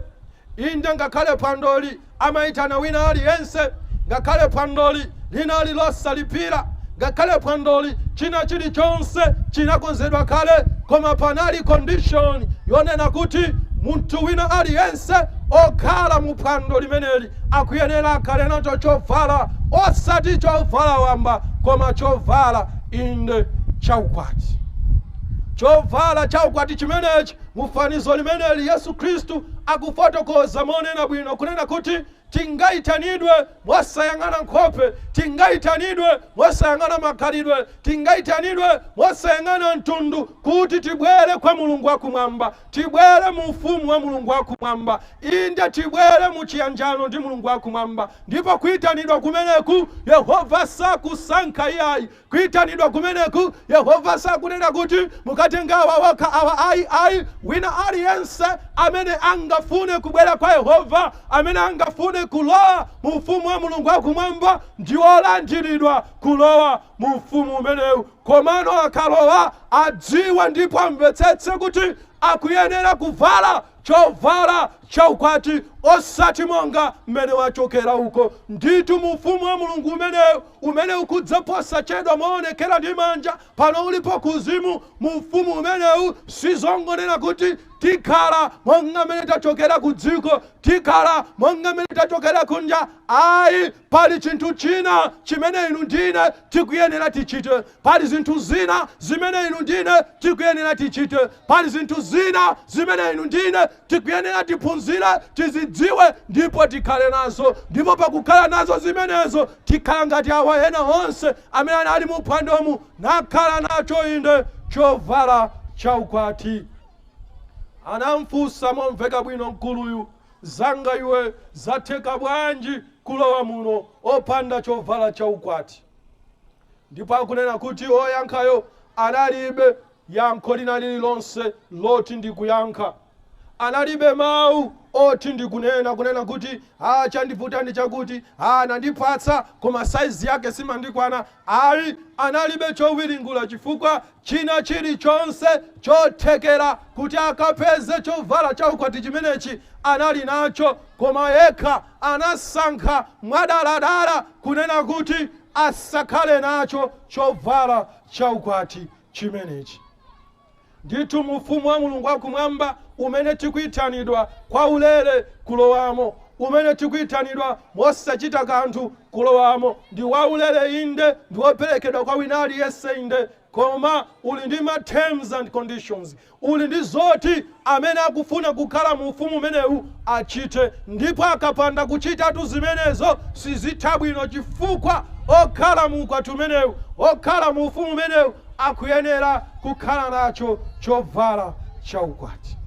inde, ngakhale phwandoli amaitana wina aliyense, ngakhale phwandoli linali losalipira, ngakhale phwandoli china chilichonse chinakonzedwa kale, koma panali condition yonena kuti munthu wina aliyense okhala mu phwando limeneli Akuyenera akhale nacho chovala, osati chovala wamba, koma chovala, inde, cha ukwati. Chovala cha ukwati chimenechi, mu fanizo limeneli Yesu Khristu akufotokoza monena bwino kunena kuti tingaitanidwe mosayang'ana nkhope, tingaitanidwe mosayang'ana makhalidwe, tingaitanidwe mosayang'ana mtundu kuti tibwere kwa Mulungu wa Kumwamba. Tibwere mu Ufumu wa Mulungu wa Kumwamba. Inde, tibwere mu chiyanjano ndi Mulungu wa Kumwamba. Ndipo kuitanidwa kumeneku, Yehova sakusankha iyayi. Kuitanidwa kumeneku, Yehova sakunena kuti, Mukatenge awa okha, awa ayi. Ayi, wina aliyense amene angafune kubwera kwa Yehova, amene angafune kulowa mu Ufumu wa Mulungu wa Kumwamba, ndi wolandiridwa kulowa mu Ufumu umenewu. Komano akalowa adziwe ndipo amvetsetse kuti akuyenera kuvala chovala cha ukwati osati monga mmene wachokera uko. Ndithu mu Ufumu wa Mulungu umenewu umene ukudza posachedwa moonekera ndi manja, pano ulipo kuuzimu mu Ufumu umenewu, si zongonena kuti tikhala monga mmene tachokera kudziko, tikhala monga mmene tachokera kunja, ayi. Pali chinthu china chimene inu ndi ine tikuyenera tichite. Pali zinthu zina zimene inu ndi ine tikuyenera tichite. Pali zinthu zina zimene inu ndi ine tikuyenera tiphunzire, tizidziwe, ndipo tikhale nazo. Ndipo pakukhala nazo zimenezo, tikhala ngati awa ena onse amene anali mu phwandomu, nakhala nacho, inde, chovala chaukwati. Anamfunsa momveka bwino mkuluyu. Zanga iwe zatheka bwanji kulowa muno opanda chovala cha ukwati? Ndipo akunena kuti oyankhayo analibe yankho lina lililonse loti n'kuyankha. Analibe mau oti n'kunena kunena kuti haa chandivuta ndi chakuti, haa anandipatsa koma size yake simandikwana ayi analibe chowiringula chifukwa china chilichonse chothekera kuti akapeze chovala cha ukwati chimenechi anali nacho, koma yekha anasankha mwadaladala kunena kuti asakhale nacho chovala cha ukwati chimenechi. Ndithu mu Ufumu wa Mulungu wa Kumwamba umene tikuitanidwa kwaulere kulowamo, umene tikuitanidwa mosachita kanthu Kulowamo ndi waulere, inde, ndi woperekedwa kwa wina aliyense, inde, koma uli ndi ma terms and conditions, uli ndi zoti amene akufuna kukhala mu Ufumu umenewu achite. Ndipo akapanda kuchitatu zimenezo, sizitha bwino, chifukwa okhala mu ukwati umenewu, okhala mu Ufumu umenewu, akuyenera kukhala nacho chovala cha ukwati.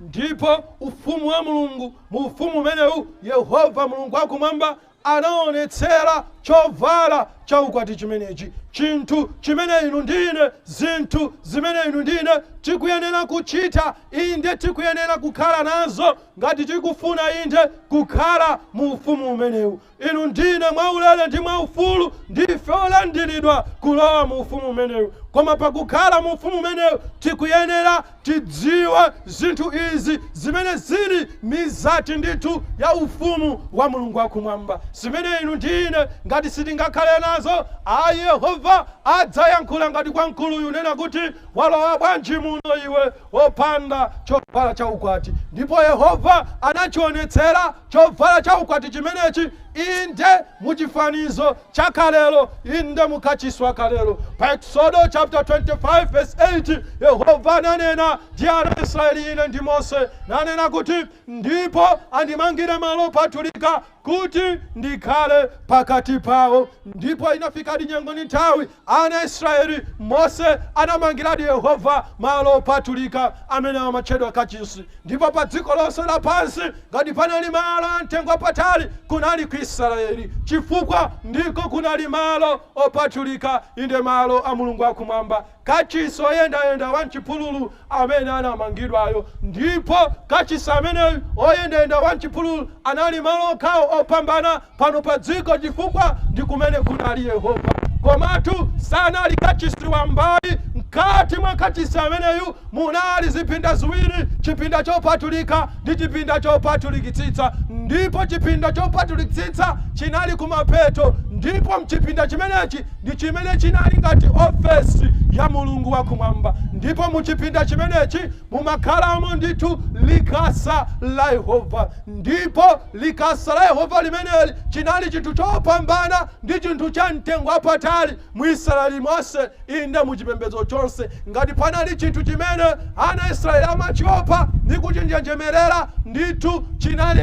Ndipo Ufumu wa Mulungu Mu Ufumu umenewu, Yehova Mulungu wakumwamba anaonetsera chovala cha ukwati chimenechi, chinthu chimene inu ndi ine, zinthu zimene inu ndi ine tikuyenera kuchita, inde, tikuyenera kukhala nazo ngati tikufuna, inde, kukhala mu Ufumu umenewu. Inu ndi ine mwaulere ndi mwaufulu ndife olandiridwa kulowa mu ufumu umenewu. Koma pakukhala mu ufumu umenewu tikuyenera tidziwe zinthu izi zimene zili mizati ndithu ya ufumu wa Mulungu wa kumwamba zimene inu ndi ine ngati sitingakhale nazo ayi Yehova adzayankhula ngati kwa mkuluyu kunena kuti walowa bwanji muno iwe? opanda chovala cha ukwati. Ndipo Yehova anachiwonetsera chovala cha ukwati chimenechi, inde, mu chifanizo cha kalelo, inde, mu kachisi wa kalelo. Pa Eksodo chaputala 25 vesi 8, Yehova ananena ndi ana a Israeli, inde ndi Mose, nanena kuti, Ndipo andimangire malo opatulika kuti ndikhale pakati pawo. Ndipo inafikadi nyengo ndi nthawi, ana a Israyeli, Mose anamangiradi Yehova malo opatulika, amene amatchedwa Kachisi, ndipo pa dziko lonse lapansi, ngati panali malo a mtengo wapatali, kunali ku Israyeli, chifukwa ndiko kunali malo opatulika, inde malo a Mulungu a Kumwamba. Kachisi oyendayenda wa mchipululu amene anamangidwayo, ndipo kachisi ameneyu oyendayenda wa mchipululu anali malo okhawo opambana pano pa dziko, chifukwa ndi kumene kunali Yehova. Komatu sanali kachisi wamba ayi. Mkati mwa kachisi ameneyu munali zipinda ziwiri, chipinda chopatulika ndi chipinda chopatulikitsitsa, ndipo chipinda chopatulikitsitsa chinali kumapeto ndipo mchipinda chimenechi, ndi chimene chinali ngati ofesi ya Mulungu wa Kumwamba, ndipo mu chipinda chimenechi mumakhalamo ndithu likasa la Yehova. Ndipo likasa la Yehova limeneli chinali chinthu chopambana ndi chinthu cha mtengo wapatali mu Israeli monse, inde, mu chipembedzo chonse. Ngati panali chinthu chimene ana a Israeli amachiopa ndi kuchinjenjemerera, ndithu chinali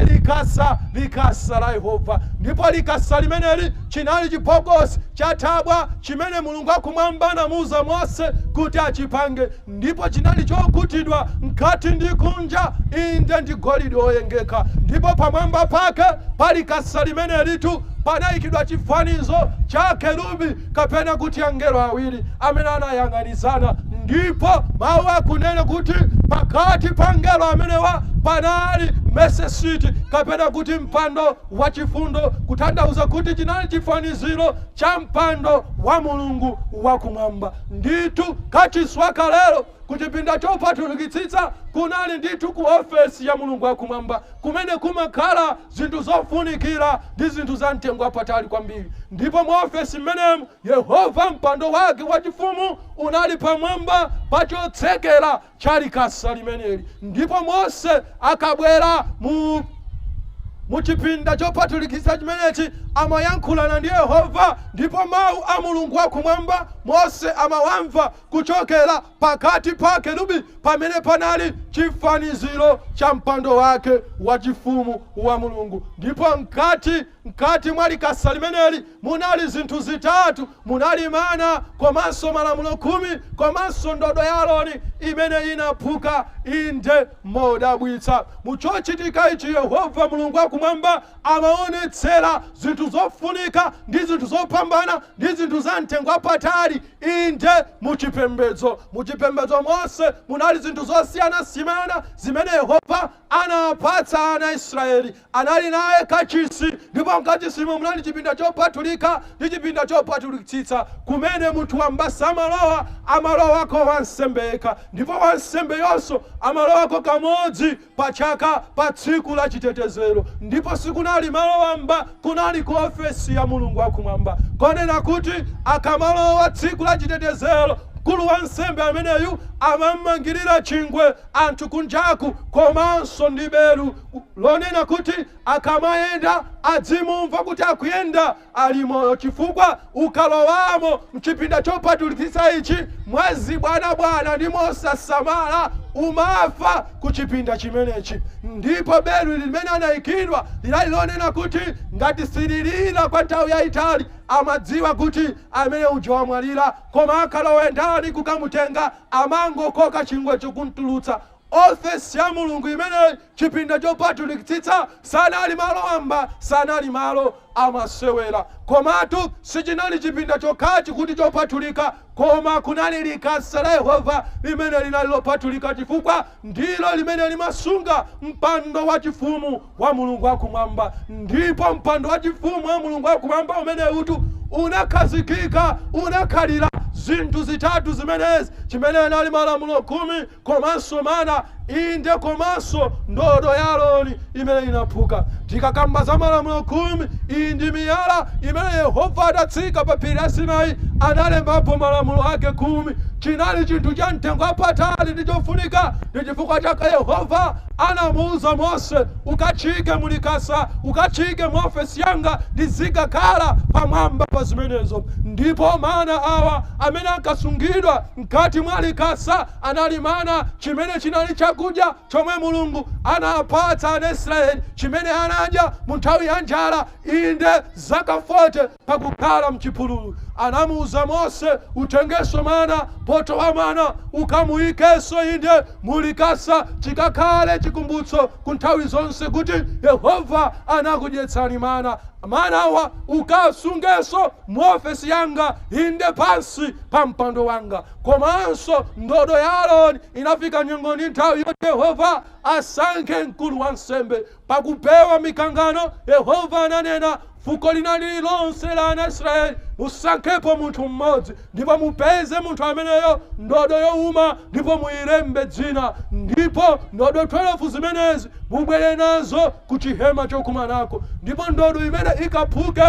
likasa la Yehova. Ndipo likasa limeneli. Chinali chibokosi cha thabwa chimene Mulungu wa Kumwamba anamuuza Mose kuti achipange, ndipo chinali chokutidwa mkati ndi kunja, inde, ndi golide woyengeka, ndipo pamwamba pake pa likasa limenelitu panaikidwa chifanizo cha akerubi, kapena kuti angelo awiri amene anayang'anizana, ndipo Mau akunena kuti pakati pa angelo amenewa panali Mesesiti, kapena kuti mpando wachifundo kutanthauza kuti chinali chifaniziro cha mpando wa Mulungu wa kumwamba. Ndithu, kachisi wa kalelo ku chipinda chopatulikitsitsa kunali ndithu ku ofesi ya Mulungu wa kumwamba kumene kumakhala zinthu zofunikira ndi zinthu za mtengo wapatali kwambiri. Ndipo mu ofesi imeneyi, Yehova mpando wake wachifumu unali pamwamba pa chotsekera cha likasa limeneli. Ndipo Mose akabwera mu chipinda chopatulikitsa chimenechi, amayankhulana ndi Yehova, ndipo Mawu a Mulungu wa Kumwamba, Mose amawamva kuchokera pakati pa Akerubi pamene panali chifaniziro cha mpando Wake wachifumu wa Mulungu, ndipo mkati. Mkati mwa Likasa limeneli munali zinthu zitatu, munali mana komanso Malamulo Khumi komanso ndodo ya Aroni imene inaphuka. Inde, modabwitsa, mu chochitika ichi Yehova Mulungu wa Kumwamba amawonetsera zinthu zofunika ndi zinthu zopambana ndi zinthu za mtengo wapatali, inde, mu chipembedzo. Mu chipembedzo monse munali zinthu zosiyanasiyana zimene Yehova anawapatsa ana a Israeli. Anali naye kachisi, ndipo m'kachisimo munali chipinda chopatulika ndi chipinda chopatulikitsitsa, kumene munthu wamba samalowa, amalowako wansembe yekha, ndipo wansembeyonso amalowako kamodzi pa chaka, pa Tsiku la Chitetezero. Ndipo sikunali malo wamba, kunali ku ofesi ya Mulungu wakumwamba, konena kuti akamalowa Tsiku la Chitetezero, mkulu wansembe ameneyu amamangirira chingwe anthu kunjaku, komanso ndi belu, lonena kuti akamayenda adzimumva kuti akuyenda ali moyo chifukwa ukalowamo mchipinda chopatulikitsa ichi mwazibwanabwana ndi mosasamala umafa ku chipinda chimenechi ndipo belu limene anayikiridwa linali lonena kuti ngati sililira kwa nthawi yayitali amadziwa kuti amene uja wamwalira koma akalowe ndani kukamutenga amangokoka chingwecho kumtulutsa Ofesi ya Mulungu imene, chipinda chopatulikitsitsa, sanali malo wamba, sanali malo amasewera. Komatu, sichinali chipinda chokhachi kuti chopatulika, koma kunali likasa la Yehova limene linali lopatulika chifukwa ndilo limene limasunga mpando wachifumu wa Mulungu wa Kumwamba. Ndipo mpando wachifumu wa Mulungu wa Kumwamba umenewutu unakhazikika, unakhalira, zinthu zitatu zimenezi, chimene anali Malamulo Khumi, komanso mana, inde, komanso ndodo ya Aroni imene inaphuka. Tikakamba za Malamulo Khumi, iyi ndi miyala imene Yehova adatsika pa phiri la Sinai analembapo Malamulo ake Khumi. Chinali chinthu cha mtengo wapatali ndi chofunika. Ndi chifukwa chake Yehova anamuuza Mose, Ukachiike mu Likasa, ukachiike mu ofesi yanga, ndizikakhala pamwamba pa zimenezo. Ndipo mana awa amene ankasungidwa. Mkati mwa Likasa anali mana, chimene chinali chakudya chomwe Mulungu anawapatsa ana Israeli, chimene anadya mu nthawi ya njala, inde, zaka 40 pakukhala mchipululu. Anamuuza Mose, Utengenso mana, poto wa mana, ukamuikenso, inde, mu Likasa, chikakhale chikumbutso ku nthawi zonse kuti Yehova anakudyetsani mana. Manawa ukasungenso. mu ofesi yanga, inde pansi pa mpando wanga. Komanso ndodo ya Aroni inafika nyengo ndi nthawi yoti Yehova asankhe mkulu wansembe. Pakupewa mikangano, Yehova ananena, Fuko lina lililonse la ana Israeli musankhepo munthu mmodzi, ndipo mupeze munthu ameneyo ndodo youma, ndipo muilembe dzina, ndipo ndodo 12 zimenezi mubwere nazo ku chihema chokumanako ndipo ndodo imene ikaphuke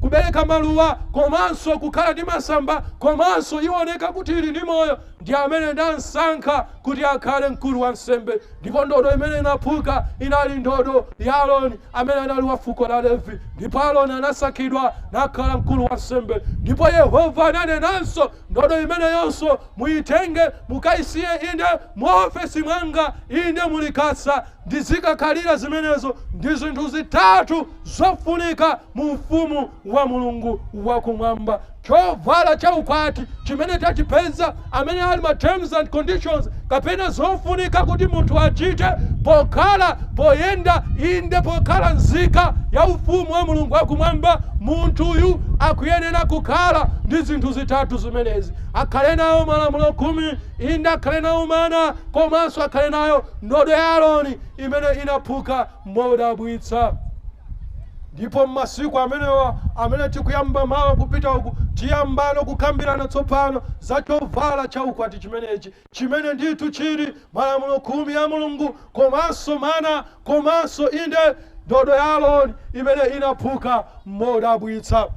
kubereka maluwa komanso kukhala ndi masamba komanso iwoneka kuti ili ndi moyo ndi amene ndamsankha kuti akhale mkulu wansembe ndipo ndodo imene inaphuka inali ndodo ya Aroni amene anali wa fuko la Levi ndipo Aroni anasankhidwa nakhala mkulu wansembe ndipo Yehova ananenanso Ndodo imeneyonso muitenge, mukaisiye. Inde, mu ofesi mwanga. Inde, mu likasa. Ndizikakhalira zimenezo. Ndi zinthu zitatu zofunika mu Ufumu wa Mulungu wa Kumwamba, chovala cha ukwati chimene tachipeza, amene ali ma terms and conditions, kapena zofunika kuti munthu achite pokhala, poyenda, inde, pokhala nzika ya Ufumu wa Mulungu wa Kumwamba, munthuyu akuyenera kukhala ndi zinthu zitatu zimenezi, akhale nayo Malamulo Khumi, inde, akhale nawo mana, komanso akhale nayo ndodo ya Aroni imene inaphuka modabwitsa. Ndipo m'masiku amenewa amene tikuyamba mawa kupita uku, tiyambano kukambirana tsopano za chovala cha ukwati chimenechi. chimene ndithu chili malamulo khumi ya Mulungu komanso mana komanso inde ndodo ya Aroni imene inaphuka modabwitsa.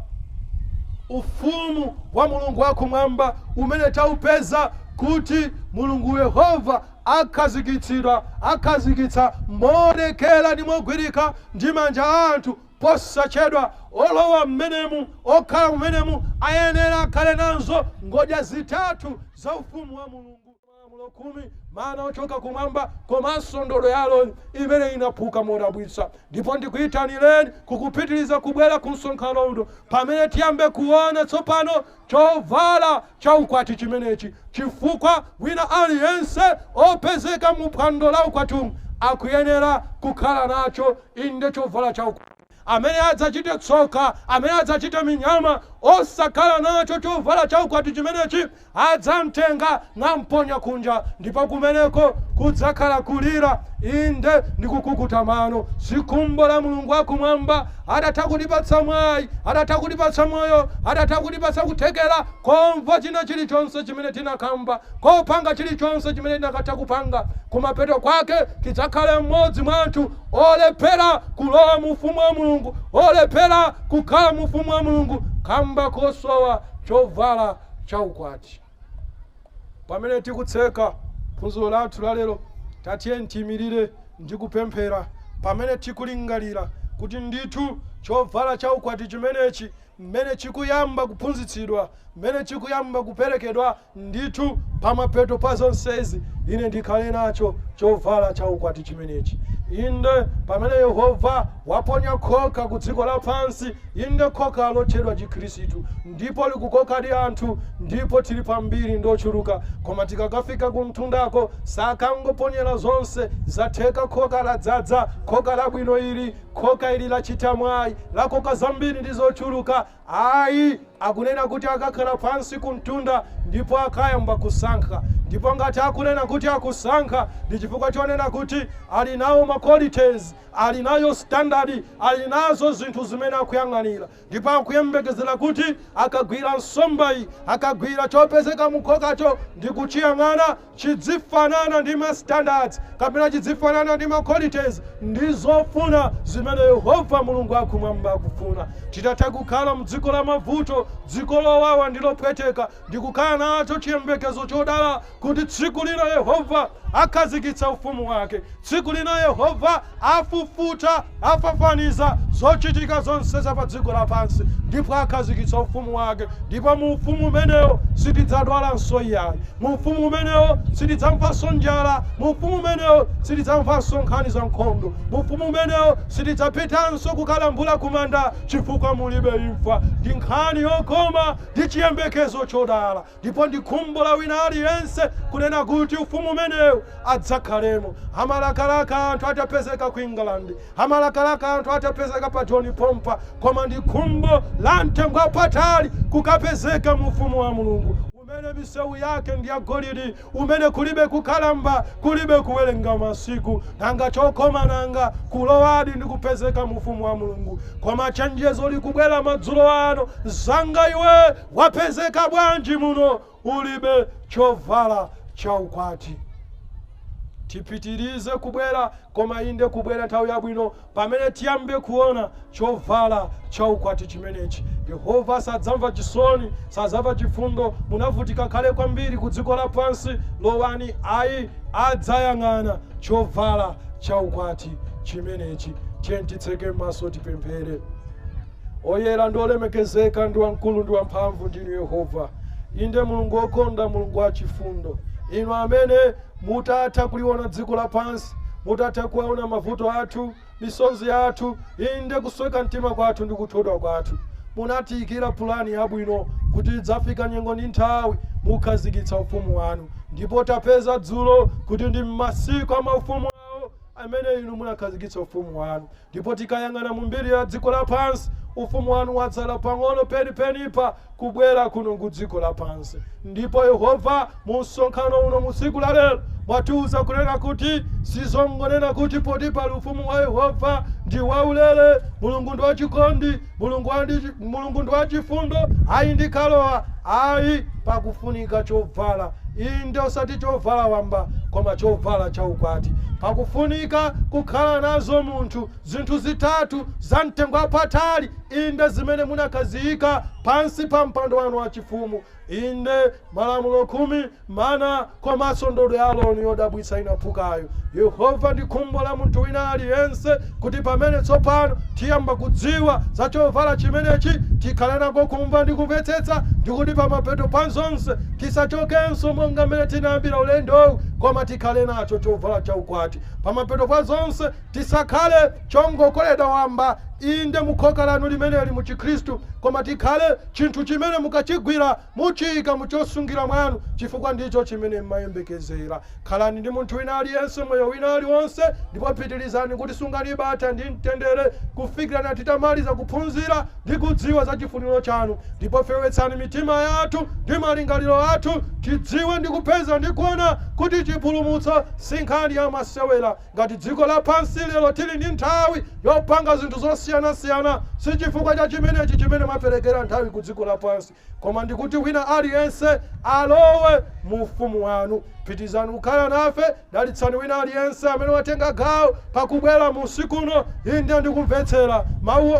Ufumu wa Mulungu wakumwamba umene taupeza kuti Mulungu Yehova akhazikitsidwa akhazikitsa moonekera ndi mogwirika ndi manja a anthu Posachedwa, olowa m'menemu okhala m'menemu ayenera akhale nazo ngodya zitatu za Ufumu wa Mulungu, Malamulo Khumi, mana ochoka kumwamba, komanso ndodo ya Aroni imene inaphuka modabwitsa. Ndipo ndikuitanireni kukupitiriza kubwera ku msonkhano uno pamene tiyambe kuona tsopano chovala cha ukwati chimenechi chifukwa wina aliyense opezeka mu phwando la ukwatimu akuyenera kukhala nacho inde chovala cha ukwati amene adzachite tsoka amene adzachite minyama osakhala nacho chovala cha ukwati chimenechi adzamtenga namponya kunja ndipo kumeneko kudzakhala kulira inde ndi kukukuta mano si khumbo la Mulungu wakumwamba Atatha kutipatsa mwayi, atatha kutipatsa moyo, atatha kutipatsa kuthekera komva china chilichonse chimene tinakamva, kopanga chilichonse chimene tinakatha kupanga, kumapeto kwake tidzakhale mmodzi mwa anthu olephera kulowa mu ufumu wa Mulungu, olephera kukhala mu ufumu wa Mulungu kamba kosowa chovala cha ukwati. Pamene tikutseka phunziro lathu la lero, tatiyeni tiimirire ndi kupemphera, pamene tikulingalira kuti ndithu chovala cha ukwati chimenechi, m'mene chikuyamba kuphunzitsidwa, m'mene chikuyamba kuperekedwa, ndithu pamapeto pa zonsezi ine ndikhale nacho chovala cha ukwati chimenechi. Inde, pamene Yehova waponya khoka ku dziko lapansi, inde, khoka lotchedwa Chikhristu, ndipo likukokadi anthu ndipo tili pambiri ndi ochuluka koma tikakafika kumtundako sakangoponyera zonse zatheka khoka ladzadza khoka labwino ili khoka ili lachita mwayi lakoka zambiri ndi zochuluka ayi akunena kuti akakhala pansi kumtunda ndipo akayamba kusankha ndipo ngati akunena kuti akusankha ndi chifukwa chonena kuti ali nawo ma qualities ali nayo standard ali nazo zinthu zimene akuyang'anira ndipo akuyembekezera kuti akagwira nsombayi, akagwira chopezeka mu khokacho ndi kuchiyang'ana, chidzifanana ndi ma standards kapena chidzifanana ndi ma qualities ndi zofuna zimene Yehova Mulungu akumwamba akufuna. Titatha kukhala m'dziko la mavuto, dziko lowawa ndi lopweteka, ndi kukhala nacho chiyembekezo chodala kuti tsiku lina Yehova akhazikitsa ufumu wake. Tsiku lina Yehova afufuta, afafaniza, zochitika zonse za padziko lapansi ndipo akhazikitsa ufumu wake. Ndipo mu ufumu umenewo sitidzadwalanso iyayi. Mu ufumu umenewo sitidzamvanso njala. Mu ufumu umenewo sitidzamvanso nkhani za nkhondo. Mu ufumu umenewo sitidzapitanso kukalambula kumanda chifukwa mulibe imfa. Ndi nkhani yokoma Ndi chiyembekezo chodala ndipo ndi khumbo la wina aliyense kunena kuti Ufumu umenewu adzakhalemo. Amalakalaka anthu atapezeka ku England. Amalakalaka anthu atapezeka pa John Pompa. Koma ndi khumbo la mtengo wapatali kukapezeka mu Ufumu wa Mulungu umene misewu yake ndi yagolidi umene kulibe kukalamba, kulibe kuwerenga masiku, nanga chokoma nanga, kulowadi ndi kupezeka mu Ufumu wa Mulungu. Koma chenjezo likubwera madzulo ano, mzanga iwe, wapezeka bwanji muno ulibe chovala cha ukwati? Tipitirize kubwera, koma inde kubwera nthawi yabwino. Pamene tiyambe kuona chovala cha ukwati chimenechi, Yehova sadzamva chisoni, sadzamva chifundo, munavutika kale kwambiri ku dziko lapansi, lowani, ayi, adzayang'ana chovala cha ukwati chimenechi. Tiyeni titseke maso tipemphere. Oyera ndi olemekezeka ndi wamkulu ndi wamphamvu ndinu Yehova, inde Mulungu wokonda, Mulungu wachifundo, inu amene Mutatha kuliwona dziko lapansi, mutatha kuona mavuto athu, misozi yathu, inde, kusweka mtima kwathu ndi kuthodwa kwathu, munatiyikira pulani yabwino kuti idzafika nyengo ndi nthawi mukhazikitsa ufumu wanu. Ndipo tapeza dzulo kuti ndi m'masiku a maufumu awo amene inu munakhazikitsa ufumu wanu. Ndipo tikayang'ana mu mbiri ya dziko lapansi, Ufumu Wanu watsala pang'ono penipenipa kubwera kuno ku dziko lapansi. Ndipo, Yehova, mu msonkhano uno mu tsiku la lero, mwatiuza kunena kuti si zongonena kuti poti pali Ufumu wa Yehova, ndi waulere, Mulungu ndi wachikondi, Mulungu ndi wachifundo, ayi ndikalowa, ayi, pakufunika chovala, inde, osati chovala wamba, koma chovala cha ukwati. Pakufunika kukhala nazo munthu zinthu zitatu za mtengo wapatali, inde, zimene munakaziyika pansi pa mpando wanu wachifumu, Inde, Malamulo Khumi, mana, komanso ndodo ya Aroni yodabwitsa inaphukayo. Yehova ndi khumbo la munthu wina aliyense kuti pamene tsopano tiyamba kudziwa za chovala chimenechi, tikhale nako kumva ndi kumvetsetsa ndi kuti pamapeto pa zonse tisachokenso monga mmene tinayambira ulendowu koma tikhale nacho chovala cha ukwati. Pamapeto pa zonse tisakhale chongokoledwa wamba, inde, mu khoka lanu limeneli mu Chikhristu, koma tikhale. Chinthu chimene mukachigwira muchiika mu chosungira mwanu, chifukwa ndicho chimene m'mayembekezera. Khalani ndi munthu wina aliyense moyo wina aliwonse, ndipo pitirizani kutisungani bata ndi mtendere kufikira na titamaliza kuphunzira ndi kudziwa za chifuniro chanu. Ndipo fewetsani mitima yathu ndi malingaliro athu, tidziwe ndi kupeza ndi kuona kuti chipulumutso si nkhani ya masewera, Ngati dziko lapansi lero tili ndi nthawi yopanga zinthu zosiyanasiyana, si chifukwa cha chimenechi chimene mmaperekera nthawi ku dziko lapansi, koma ndi kuti wina aliyense alowe mu ufumu wanu. Pitirizani kukhala nafe. Dalitsani wina aliyense amene watenga gawo pa kubwera mu usiku uno, inde, ndi kumvetsera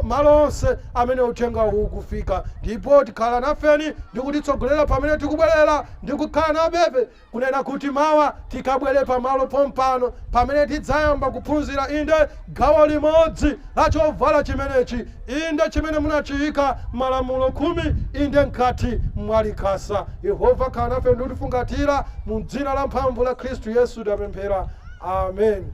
malo onse amene uthenga uwu ukufika. Ndipo tikhala nafeni ndi kutitsogolera pamene tikubwerera ndi kukhala nafebe. Kunena kuti mawa tikabwere pamalo pompano pamene tidzayamba kuphunzira, inde, gawo limodzi la chovala chimenechi, inde, chimene munachiika Malamulo Khumi, inde, mkati mwa Likasa. Yehova, khala nafe ndi kutifungatira. Mu dzina lamphamvu la Khristu Yesu tapemphera. Amen.